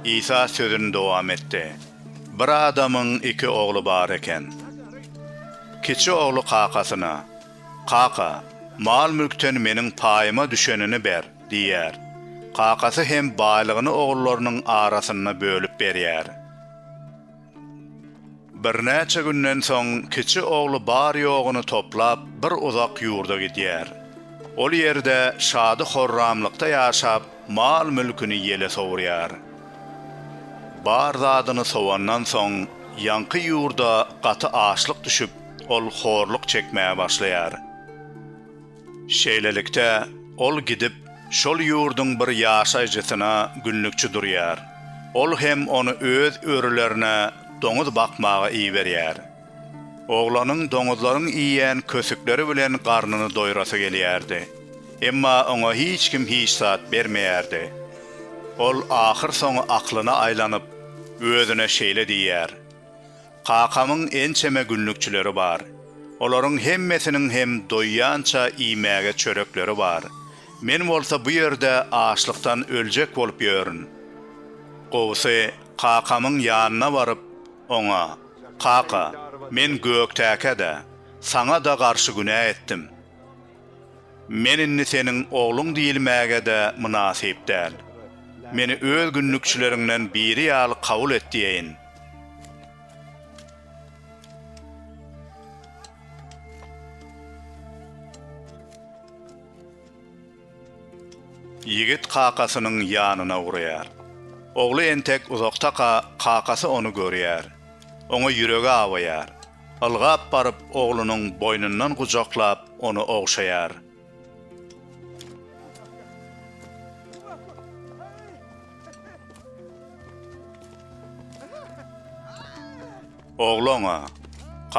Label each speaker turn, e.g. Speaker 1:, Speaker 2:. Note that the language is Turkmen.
Speaker 1: Isa sözüni dowam etdi. Bir adamyň iki ogly bar eken. Kiçi ogly kakasyna, Kaka, mal-mülkden meniň paýyma düşenini ber diýýär. Kakasy hem baýlygyny ogullarynyň arasynda bölüp berýär. Birnäçe günden soň kiçi ogly bar-ýoguny toplap bir uzak ýurda gidýär. Ol ýerde şady-horramlykda ýaşap, mal-mülküni ýele sowurýar. Bar zadyny sowandan soň, ýaňky ýurda gaty açlyk düşüp, ol horluk çekmäge başlaýar. Şeýlelikde, ol gidip, şol ýurduň bir ýaşaýjysyna günlükçi durýar. Ol hem ony öz örülerine doňuz bakmaga iberýär. Oglanyň doňuzlaryň iýen kösükleri bilen garnyny doýrasy gelýärdi. Emma oňa hiç kim hiç zat bermeýärdi. Ol ahyrsoňy aklyna aýlanyp, özüne şeýle diýýär. Kakamyň ençeme günlükçileri bar. Olaryň hemmesiniň hem doýýança iýmäge çörekleri bar. Men bolsa bu ýerde açlykdan öljek bolup ýörün. Gowusy, kakamyň ýanyna baryp, oňa, Kaka, men Göktäke-de, saňa-da garşy günä etdim. Men indi seniň ogluň diýilmäge-de mynasyp däl. Meni öz günlükçileriňden biri ýaly kabul et diýeýin. Ýigit kakasynyň ýanyna ugraýar. Ogly entek uzakdaka kakasy ony görýär. Oňa ýüregi awaýar. Ylgap baryp oglunyň boýnundan gujaklap ony ogşaýar. Ogly oňa,